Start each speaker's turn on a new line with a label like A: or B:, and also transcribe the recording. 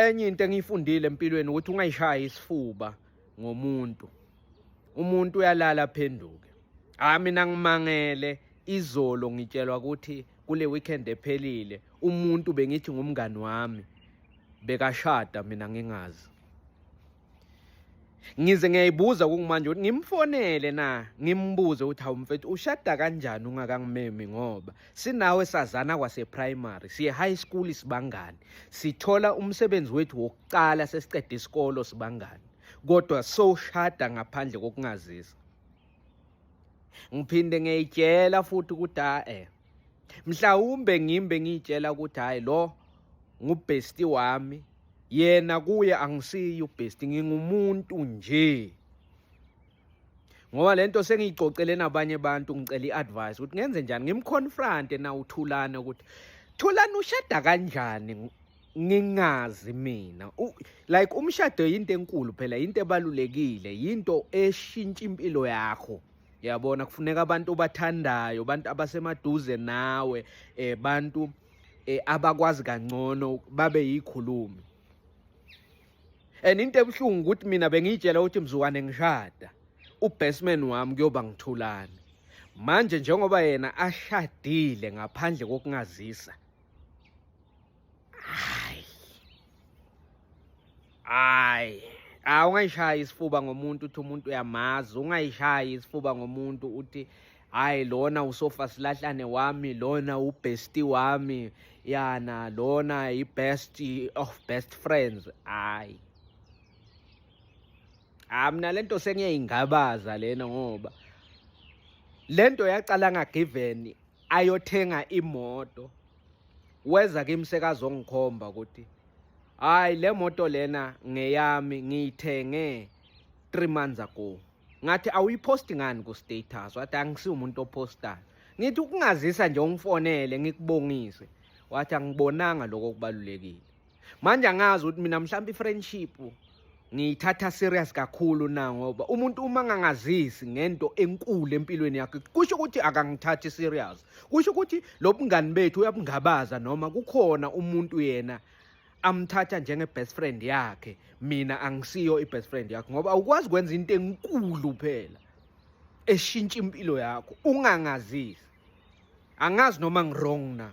A: enye into engiyifundile empilweni ukuthi ungayishaya isifuba ngomuntu umuntu uyalala aphenduke hayi mina ngimangele izolo ngitshelwa ukuthi kule weekend ephelile umuntu bengithi ngumngani wami bekashada mina ngingazi ngize ngiyayibuza kungimanje ukuthi ngimfonele na ngimbuze ukuthi hawu mfethu ushada kanjani ungakangimemi ngoba sinawe sazana kwaseprimary siye high school sibangani sithola umsebenzi wethu wokuqala sesiqeda isikolo sibangani kodwa soshada ngaphandle kokungazisa ngiphinde ngiyitshela futhi ukuthi hayi eh, mhlawumbe ngimbe ngiyitshela ukuthi hayi lo ngubhesti wami yena kuye angisiyi ubhesti ngingumuntu nje ngoba lento sengiyicocele nabanye abantu ngicela i-advice ukuthi ngenze njani ngimconfronte na uthulane ukuthi thulane ushada kanjani ngingazi mina like umshado yinto enkulu phela yinto ebalulekile yinto eshintsha impilo yakho yabona kufuneka abantu obathandayo abantu abasemaduze nawe eh bantu eh, abakwazi kangcono babe yikhulumi and into ebuhlungu ukuthi mina bengiyitshela ukuthi mzukwane ngishada ubasement wami kuyoba ngithulani manje njengoba yena ashadile ngaphandle kokungazisa Ay. Ay. Ah ungayishaya isifuba ngomuntu uthi umuntu uyamazi, ungayishaya isifuba ngomuntu uthi hayi lona usofa silahlane wami lona ubesti wami yana lona i-best of best friends hayi ah mina lento sengiyayingabaza lena ngoba lento yaqala ngagiven ayothenga imoto weza kimi sekazongikhomba ukuthi hayi le moto lena ngeyami ngiyithenge 3 months ago ngathi awuyiposti ngani ku status wathi angisiwe umuntu opostayo ngithi ukungazisa nje ungifonele ngikubongise wathi angibonanga lokho kubalulekile manje angazi ukuthi mina mhlawumbe i-friendship ngiyithatha serious kakhulu na ngoba umuntu uma ngangazisi ngento enkulu empilweni yakhe kusho ukuthi akangithathi serious kusho ukuthi lo bungani bethu uyabungabaza noma kukhona umuntu yena amthatha njenge best friend yakhe mina angisiyo i best friend yakhe ngoba awukwazi kwenza into enkulu phela eshintsha impilo yakho ungangazisi angazi noma ngirong na